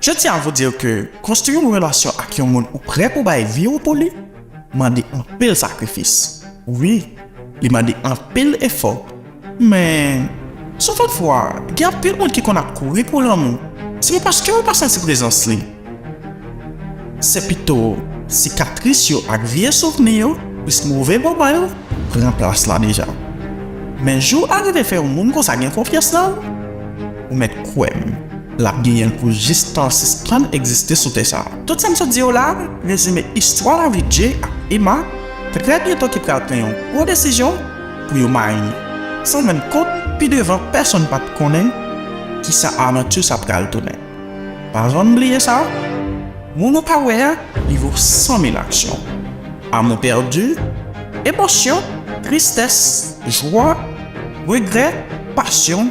Je tiens à vous dire que konstwi yon relasyon ak yon moun ou prè pou bay vi ou pou li mande anpil sakrifis. Wi, li mande anpil efò. Men, souvan fwa, gen anpil moun ki konn ap kouri pou lanmou, se pa paske yo pa santi prezans li. Se pito sikatris yo ak vye souvni yo, plis move moman yo, pran plas la deja. Men jou a rive fè yon moun konsa gen konfyans nan ou. Ou mèt kwè m, l ap genyen l pou jis tan an sispann egziste sou tè sa a. Tout sa m sot di yo la a rezime istwa lavi Jay ak Emma trè byento ki pral pran yon gwo desizyon pou yo mari san rann kont pi devan pèsonn pa t konnen ki sa avanti sa pral tounen. Pa janm bliye sa, moun ou pa wè a li vo san mil aksyon. Amou pèdi, emosyon, tristès, jwa, regrè, pasyon.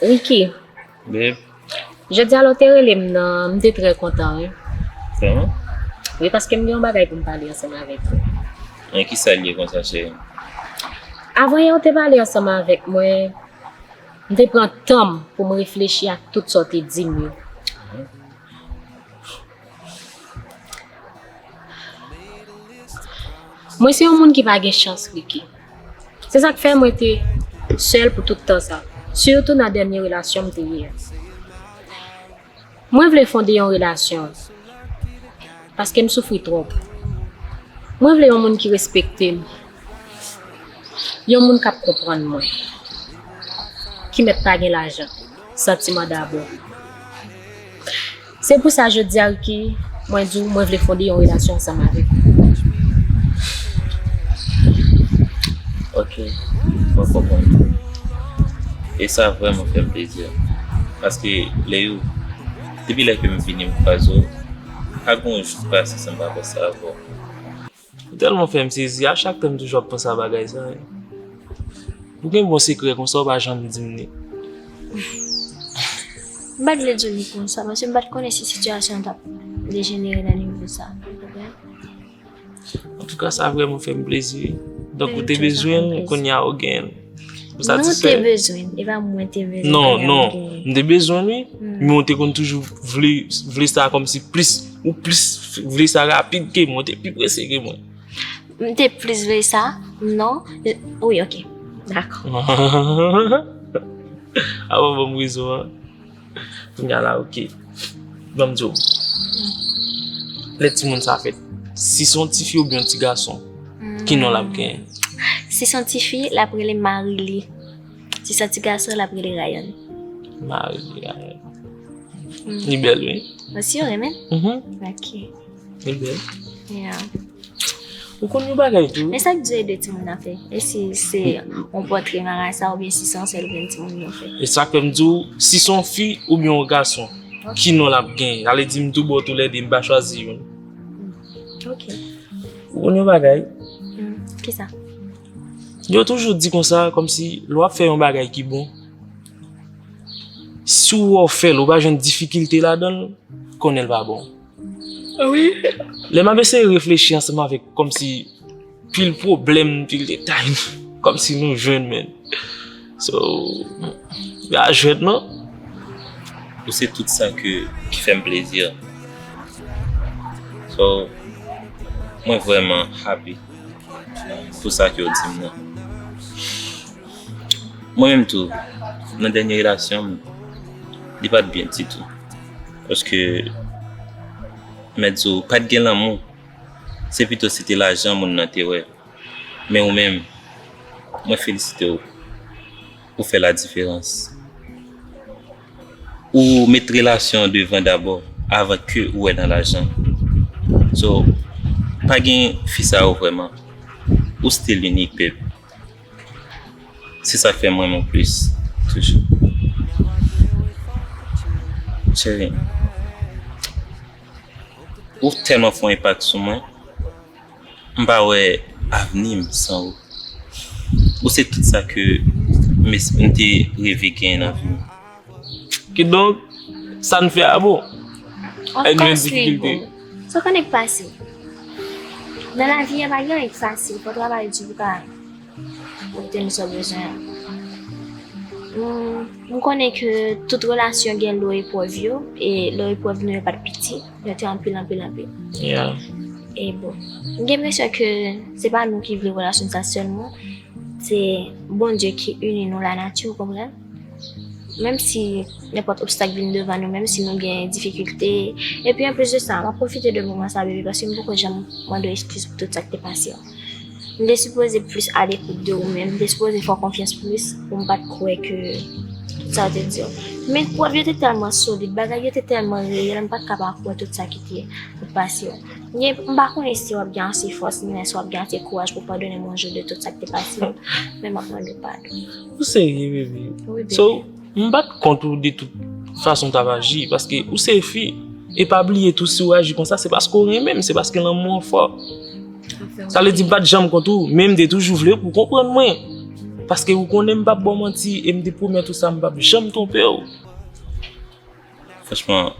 Ricky, Beb, jodi a lè w te rele m nan, m te trè kontan wi. Vreman? Wi, paske m gen yon bagay pou m pale ansanm avèk ou. An ki sa l ye konsa cheri m? Avan yè w te pale ansanm avèk mwen, m te pran tan m pou m reflechi ak tout sa w te di m yo. Mwen se yon moun ki pa gen chans Ricky. Se sak fè mwen te sèl pou tout tan sa, sitou nan dènye relasyon m te ye a. Mwen vle fonde yon relasyon paske m soufri twòp. Mwen vle yon moun ki respekte m, yon moun k ap konprann mwen, ki mèt pa gen lajan, santiman dabò. Se pou sa jodi a Ricky, mwen di w mwen vle fonde yon relasyon ansanm avèk ou. Ok, mwen konprann ou. E sa vrèman fè m plezi. Paske lè yo, depi lè ke m vini m kwaze w, pa gen yon jou ki pase san m pa panse avè w. Ou tèlman fèm sezi a chak tanm toujou ap panse a bagay sa yo. Ou gen bon sekrè konsa ou pa janm dim li. M pat vle diw li konsa paske m pat konnen si sitiyasyon an tap dejenere nan nivo sa. Antouka sa vrèman fèm plezi wi. Donk ou te bezwenl kounya ou genyenl. Nou te bezwen, e pa mwen te bezwen. Non, non, nou te bezwen li, men ou te kon toujou vle sa kom si plis, ou plis vle sa rapid ke mwen, ou te pi prese ke mwen. Mwen te plis vle sa, non, oui, ok, d'accord. Awa bon mwen zo an. Kounya la ok. Banm diw. Lè timoun sa fèt. Si son ti fi oubyen yon ti gason. Ki non lap genyen? Si son ti fi, lap rele Marili. Si son ti gason, lap rele Rayan. Marili, Rayan. Li bèl wi. Ou si ou renmen? Mh. Ok. Li bèl. Yeah. Ou konn yon bagay tou? Men sa k di ede timoun nan fè? E si se yon pòtre marasa oubyen si se yon sèl grenn timoun yo fè? E sa fè m di w, si se yon fi oubyen yon gason, ki non l ap gen? L ale di m toubon toulède, m pa chwazi youn. Ok. Ou konn yon bagay? Ki sa? Yo toujou di konsa, kòmsi lè w ap fè yon bagay ki bon, si w wè w fè l, ou pa jwenn difikilte ladan l, konnen l pa bon. Lè map eseye reflechi ansanm avèk kòmsi pil pwoblèm, pil detay kòmsi nou jèn men so m pa jwèt non. Ou se tout sa ki fèm plezi so mwen vrèman happy pou sa ke ou dim nan. Mwen menm tou nan dènye relasyonm li pat byen ditou. Paske, mèt di w, pa t gen lanmou, se pito se te lajan moun nan te wè. Men ou menm, mwen felisite w, ou fè ladiferans. Ou met relasyon an devan dabò, avan ke ou wè nan lajan. So, pa gen fi sa yo vrèman. Ou stil inik, beb. Se sak fèm renmen w plis toujou Cheri m Ou tèlman fè yon enpak sou mwen M pa wè avni m san ou Ou se tout sa ke m te reve genyen nan vi m. Kidonk, sa n fè a bon. Èg gen difikilte. Of kòs li bon. Sa w konn èg fasil? Nan lavi a pa gen èg fasil. Fò w travay di pou w ka obteni sa w bezwen an. M konnen ke tout relasyon gen lo eprèv yo. E lo eprèv nou yo pa t piti. Yo te anpil anpil anpil. Ya. E bon. M gen enpresyon ke se pa nou ki vle relasyon sa sèlman. Se Bondye ki ini nou, lanati, w konprann? Menm si nenpòt obstak vin devan nou, menm si nou gen difikilte, epi anplis de sa, mwen pwofite de moman sa bebe paske m poko janm mande w eskiz pou tout sa k te pase an. M te sipoze plis alekout de ou men m te sipoze fè w konfyans plis pou m pa t kwè ke tout sa yo te di w. Men pwèv yo te tèlman solid, bagay yo te tèlman reyèl m pa t ka pa kwè tout sa ki te pase yo. Gen, m pa konnen si w ap gen ase fòs ni lè si w ap gen ase kouraj pou w padone m yon jou de tout sa k te pase yo, men m ap mande w padon. Ou serye bebe? Wi bebe. So, m pa t kont ou de tout fason w t ap aji paske ou se fi. E pa bliye tou si w aji konsa se paske w renmen m, se paske lanmou an fò. Sa vle di m pa t janm kont ou men m te toujou vle pou w konprann mwen. Paske ou konnen m pa p ba w manti e m te pwomèt ou sa m pa p janm twonpe w. Franchman,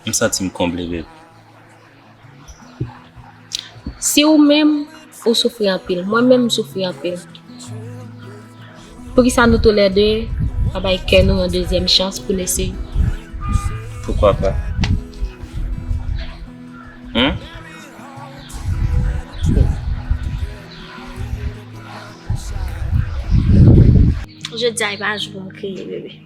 m santi m konble bebe. Si ou menm ou soufri anpil, mwen menm m soufri anpil. Pou ki sa nou tou lè de pa bay kè nou yon dezyèm chans pou n eseye? Poukwa pa? Hmm? Jodi a e pa jou pou m kriye, bebe.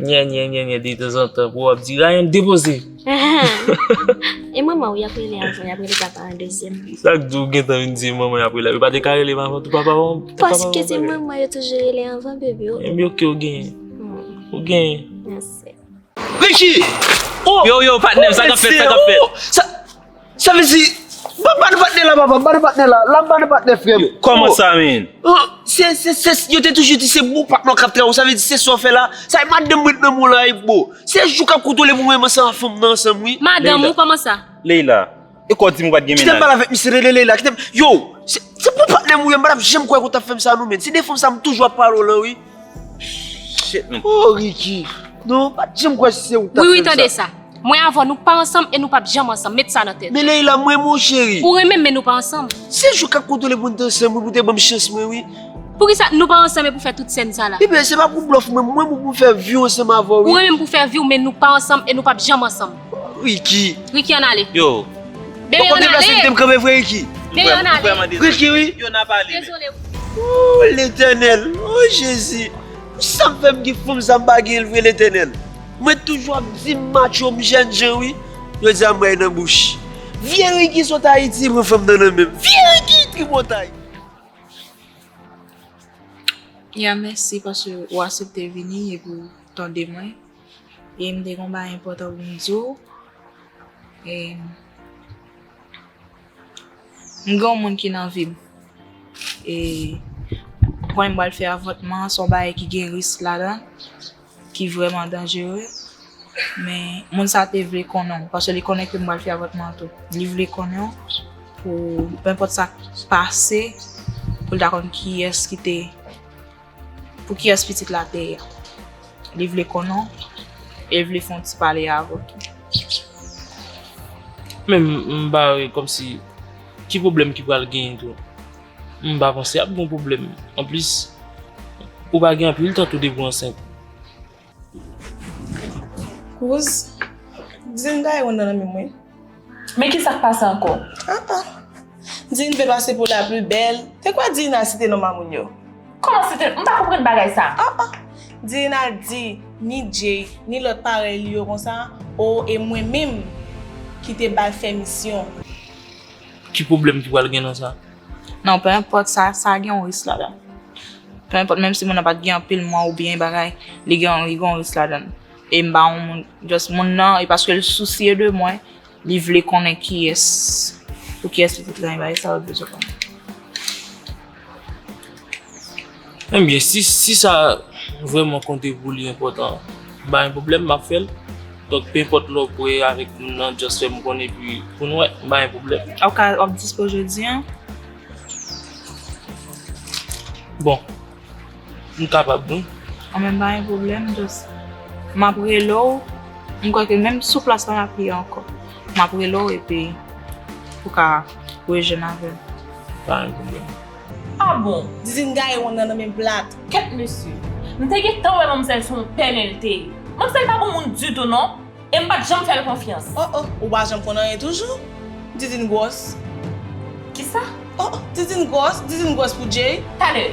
Nye nye nye nye de tan zan tan pou wap di Ryan depoze. E manman ou yap rele avan yap rele papa an dezyèm. Sak di ou gentan vin di manman yap rele. Yo pa te ka rele manman tou papa manman. Paske se manman yo toujou rele anvan bebe o. Ebyen ok ou genyen. Ou genyen. Mèsi. Ricky! Yo yo patnèm sa kap fèt sa kap fèt. Sa vle di, pa bane patnè la papa, bane patnè la, la bane patnè frè m. Yo, kòman sa menn? O, se, se, se, yo te toujou di se bon patnè w k ap travay w, sa vle di se sa w fè la, sa e madanm m ret nan men w la e bo. Se jou k ap konte w lè pou mwen menm ansanm ak fanm nan ansanm wi. Madanm ou, kòman sa? Leila, e kò w di m ou pa t gen Kite m mennaj? pale avèk misye, rele Leila, kite m, yo, se, se bon patnè m ou ye m pa t ap janm kwè ke w t ap fè m sa non menn, se de fanm sa m toujou ap pale w lan wi. Shit man. Oh Ricky! Non, m pa t janm kwè se ou k t ap fè m sa. Wi wi tande sa. Mwen avè w nou pa ansanm e nou pap janm ansanm. Met sa nan tèt ou. Men Leïla m renmen w cheri. Ou renmen m men nou pa ansanm. Se jou k ap kontwole pou n t ansanm wi pou w te ban m chans mwen wi. Poukisa nou pa ansanm e pou w fè tout sèn sa la. Ebyen se pa pou blòf mwen, mwen pou pou fè vi w ansanm avè w wi. Ou renmen m pou fè vi w men nou pa ansanm e nou pap janm ansanm. Ricky. Ricky an ale. Yo. Bebe an ale. Ou konpli plas kitem kanpe vre Ricky. Bebe an ale. Ricky wi. Yo nap ale. Dezole Ricky. Ooh letènèl. Oh jezi. Sam fèm gen fanm sa mpa genyenl vre letènèl. Mwen toujou ap dim maco m jèn jan wi. Jodi a m bay nan bouch. Vye Ricky sot ayiti pran fanm nan nan menm. Vye Ricky tripotay. Ya mèsi paske ou asepte vini epi ou tande mwen. E m te gen yon bagay enpòtan pou m di w. E m gen yon moun ki nan vi m. E kounye m pral fè avòtman an, se yon bagay ki gen risk ladan l, ki vrèman danjere. Men moun sa a te vle konnen w, paske li konnen ke m pral fè avòtman an tou. Li vle konnen w pou, penpòt sa k pase, pou l ta konn kiyès ki te. Pou kiyès pitit la te ye? Li vle konnen w e l vle fè yon ti pale avè w tou. Men m pa wè kòmsi ki pwoblèm ki pral genyen tou. M pa panse ap gen yon pwoblèm. Anplis, ou pa gen anpil tan tou depi w ansent. Kouz, Dine gaye wonn nan nanmim wi. Men kisa k pase anko? Ah ah. Dine vle pase pou la plus belle. Te kwè Dine al site non mamoun yo? Koman site, m pa konprann bagay sa. Ah ah. Dine al di ni Jay, ni lot parèy li yo konsa, oh e mwen menm ki te bal fè misyon. Ki pwoblèm ki pral gen nan sa? Non, peu importe sa, sa gen yon risk ladan. Peu enpòt menm si moun nan pat gen anpil mwa oubyen yon bagay li gen yon li gen yon risk ladann e m pa yon moun just moun nan e paske l sousye de mwen li vle konnen kiyès pou kiyès li te travay bagay sa yo l bezwen konnen. Ebyen si si sa vrèman konte pou li enpòtan m pa gen pwoblèm m ap fè l donk peu enpòt lè w kwè avèk moun nan just fè m konnen epi pou n wè m pa gen pwoblèm. Ou ka w ap dispo jodi an? Bon, m kapab wi. An men pa gen pwoblèm, just m ap rele w, m kwè ke menm sou plas la m ap ye ankò. M ap rele w epi ou ka rejwenn avè m. Pa gen pwoblèm. Ah bon, didine gaye wonn nan nan men blatt. Kèt mesye. M te gentan wè manmzèl se yon pè men l te ye. Manmzèl pa bon moun ditou non. E m pat janm fè l konfyans. Oh oh, ou pa janm konn anyen toujou? Didine gwòs. Kisa? Oh oh, Didine gwòs, Didine gwòs pou Jay. Tale!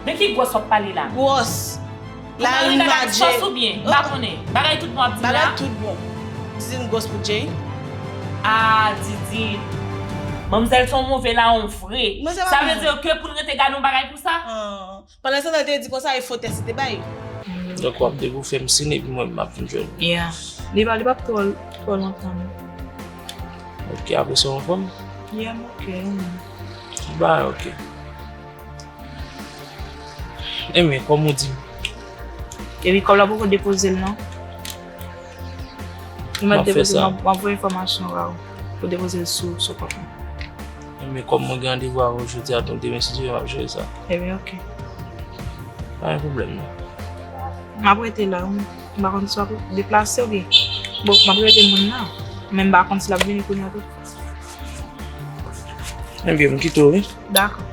De ki gwòs w ap pale la? Gwòs. Pou Marina gad sòs ou byen? M pa konnen. Bagay tout bon w ap di m la? Bagay tout bon. Didine gwòs pou Jay. Ah Didine. Manmzèl se yon move lawon vre. Sa vle di ke pou n rete gade yon bagay konsa? Pandan se tan te di konsa e fo tès li te bay. Donk wap de pou fèm sin epi mwen map vin jwenn. Yeah. Li pa li pap twò twò lontan non. Ok apre sa ou anfòm? Yeah m ok e menm? Tout bagay ok. E men kòm ou dim. Epi kòb la poko depozel non. Map fè sa. Map voye enfòmasyon ba ou pou depozel sou kòb la. Ebyen kòm mwen gen randevou avèw jodi a donk demen si Dye vle map jere sa. Ebyen ok. Pa gen pwoblèm non. Map rete la wi, m pa konn si wap deplase oubyen. Bon map rele moun nan, men m pa konn si lap vini kounya tou. Ebyen m kite w wi. Dakò.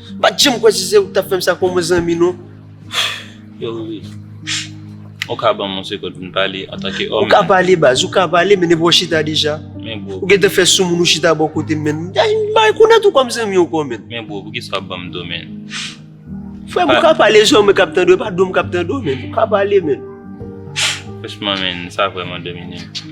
M pat janm kwè se se ou ki tap fèm sa kòm zanmi non. Yo wi. Ou ka banm yon sekond pou n pale antanke òm. Ou ka pale baz, ou ka pale men depi w chita deja. Men bro. Ou gentan fè soumoun ou chita bò kote m menn. M pa rekonèt ou kòm zanmi ankò menn. Men bro poukisa wap banm do menn. Frè m ou ka pale se mwen kap tande w e pa do m kap tande w menn. Ou ka pale menn. Franchman menn sa vrèman domine m.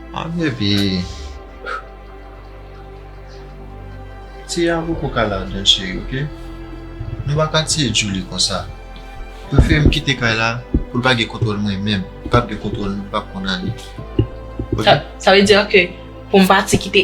An depi Tia poko ka ladann cheri ok Nou paka tiye Djoulie konsa Li prefere kite kay la poul pa gen kontwòl mwen menm li pap gen kontwòl nou li pap konn ale Sa vle di ke poum pati kite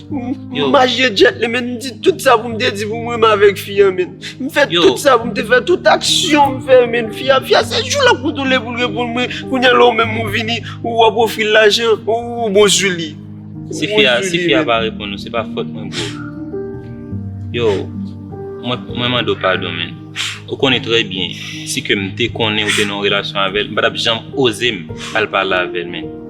M mache djèt li men, m di tout sa pou m te di pou m renmen avèk fi an men. M fè tout sa pou m te fè, tout aksyon m fè men. Fi a, fi a se jou l ap retounen pou l reponn mwen. Kounya la ou menm ou vini, ou ap ofri l lajan, ou bon sou li. Si fi a, si fi a pa reponn ou, se pa fòt mwen bro. Yo, mwen, mwen mande w padon men. Ou konnen trè byen, si ke m te konnen ou te nan yon relasyon avè l, m pa t ap janm oze m al pale avè l men.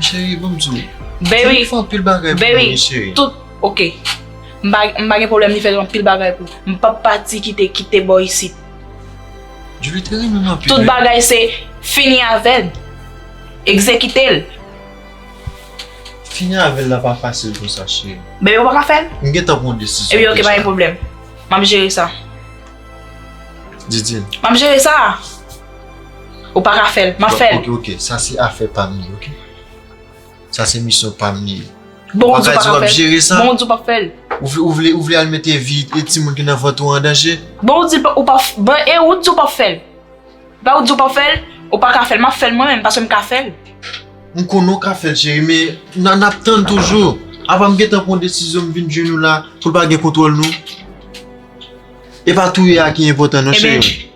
Chérie banm di w. Baby. Li fè anpil bagay pou mwen chérie. Tout ok. M pa gen pwoblèm li fè anpil bagay pou mwen. M pa p pati kite kite bò isit. Djoulie te renmen m anpil. Tout bagay se fini avè l. Egzekite l. Fini avè l la pa fasil konsa chérie. Baby ou pa ka fè l? M gentan pran yon desizyon deja. Epi ok pa gen pwoblèm. M ap jere sa. Didine. M ap jere sa. Ou pa ka fèl, map fèl. Ok, ok, sa se afè pam li, ok. Sa se misyon pam li. Bon ou di ou pa ka fèl. Ou pa ka di wap jere sa. Bon ou di ou pap fèl. Ou vle, ou vle al mete vi e timoun ki nan vant ou an danje. Bon ou di ou pa, bon e ou di ou pap fèl. Epa ou di ou pap fèl, ou pa ka fèl, map fèl mwen menm paske mka fèl. M konnen ou ka fèl cheri men nan nap tann toujou. Apa m gentan pran desizyon m vin jwenn ou la pou l pa gen kontwòl nou. Epa touye a ki enpòtan non cheri.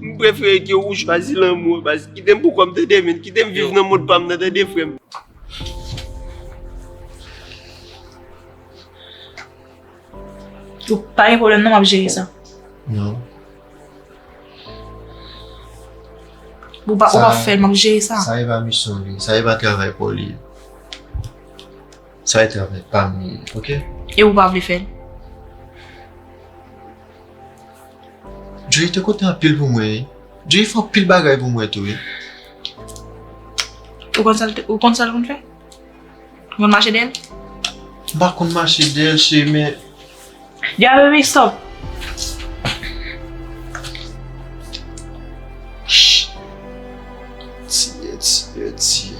M prefere ke ou chwazi lanmou an baz. Kite m pou kòm tande men. Kite m viv nan mond pa m nan tande frè m. Pa gen pwoblèm non m ap jere sa. Non. Ou pa fè l m ap jere sa. Sa e pa misyon li. Sa e pa travay pou li. Sa e travay pam li ye ok. E ou pa vle fèl? Jay te kontan anpil pou mwen wi. Jay fè anpil bagay pou mwen tou wi. Ou konn sal ou konn sal konn fè? Ou konn mache dèyèl? M pa konn mache dèyèl cheri men. Dia baby stop. Tiye, tiye, tiye.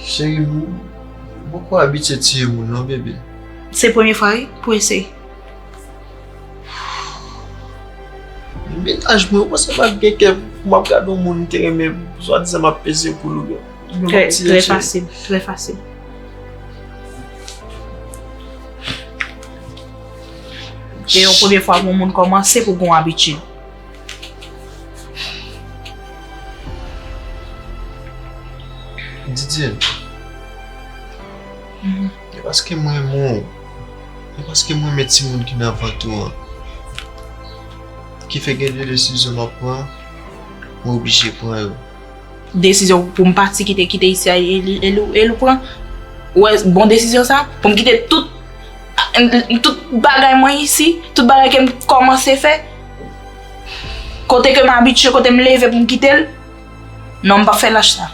Cheri m, m poko abitye tiye moun non bebe. Se premye fwa wi pou eseye. Menaj mwen, ou panse m ap gen kè pou m ap gade yon moun m te renmen swa dizan m ap peze poul ou byen. Trè fasil, trè fasil. Se yon premye fwa pou yon moun kòmanse pou gen yon abitid. Didye, e paske m renmen w, e paske m renmen timoun ki nan vant ou an, ki fè gen de desizyon m ap pran, m oblije pran yo. Desizyon pou m pati kite kite isi a e li pran ou wè bon desizyon sa pou m kite tout tout bagay mwen isi tout bagay ke m kòmanse fè kote ke m abitye kote m leve pou m kite l non m pap fè lach sa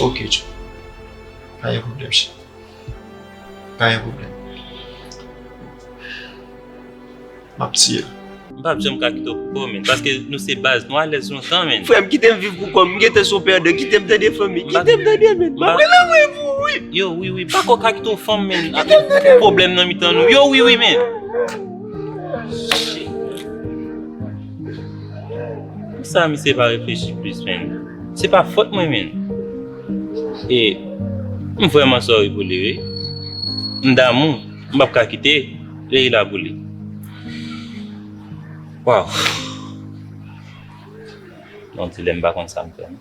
ok tchou pa gen pwoblèm cheri. Pa gen pwoblèm. M ap tiye l. M pap janm ka kite w pou kò w menn. Paske nou se baz. Nou alèz lontan menn. Frè m kite m viv pou kò m. M gen te son pèdè. Kite m tande fanmi. Kite m tande menn. M ap pran lanmè pou ou wi. Yo wi wi. M pa ko ka kite w fanm menn. Kite m tande. Pwoblèm nan mitan nou. Yo wi wi menn. Pou sa misye pa reflechi plis menn. Se pa fòt mwen menn. E m vrèman sorry pou li wi. M damou, m pap ka kite Leïla pou li. Waww. Yon ti lè m pa konn sa m fè non.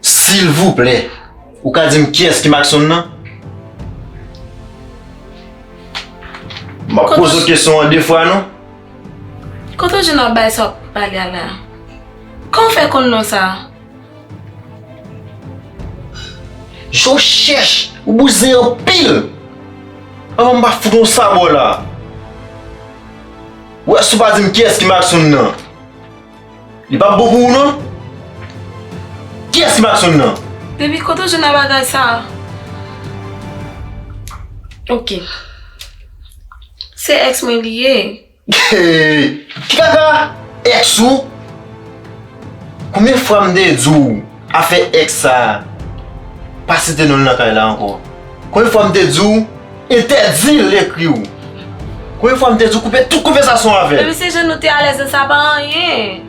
Silvouplè, ou ka di m kiyès ki Macson nan? M ap poze w kesyon an de fwa non. Kote w jwenn anbay sa w ap pale a la? Kòman w fè konn non sa a? Jou chèch ou bouzen anpil Avan m pa fout yon sabò la Ou wè si w pa di m kiyès ki Mackson nan Li pap bon pou ou non Kiyès ki Mackson nan? Depi kote w jwenn bagay sa a Ok Se ex mwen li ye Ti kaka ex ou Konbyen fwa m te di w afè ex sa pa site non l nan kay la ankò Konbyen fwa m te di w entèdi l ekri w Konbyen fwa m te di w koupe tout konvèsasyon w avè l Baby se jan nou te alèz lan sa pa anyen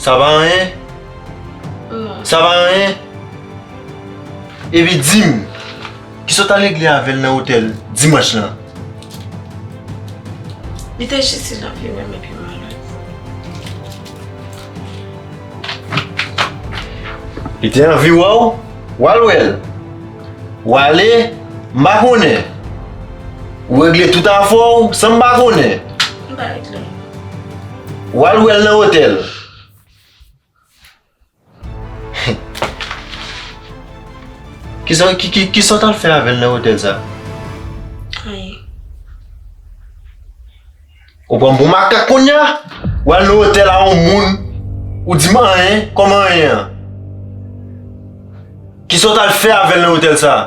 Sa pa anyen Non Sa pa anyen Epi di m. Ki sot al regle avè l nan otèl dimanch lan. Li te jis di l ap vin wè m epi mal ale. Li te anvi wè w, w al wè l. W ale, m pa konnen. Ou regle tout afè w san m pa konnen. M pa regle anyen. W al wè l nan otèl. Ki sa w t al fè avè l nan otèl sa a? Anyen. Ou pran m pou makak kounye a? Ou al nan otèl a yon moun, ou di m anyen? Kòman anyen an? Ki sa w t al fè avè l nan otèl sa a?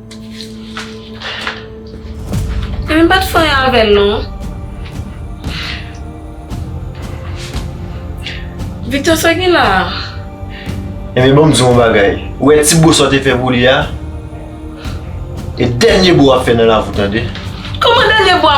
Mwen pat fè anyen avèl non. Victor sa gen la a? Ebyen banm diw yon bagay, ou wè ti bo sa w te fè pou li a, e dènye bo wap fè nan lavi w tande. Kòman dènye bo a?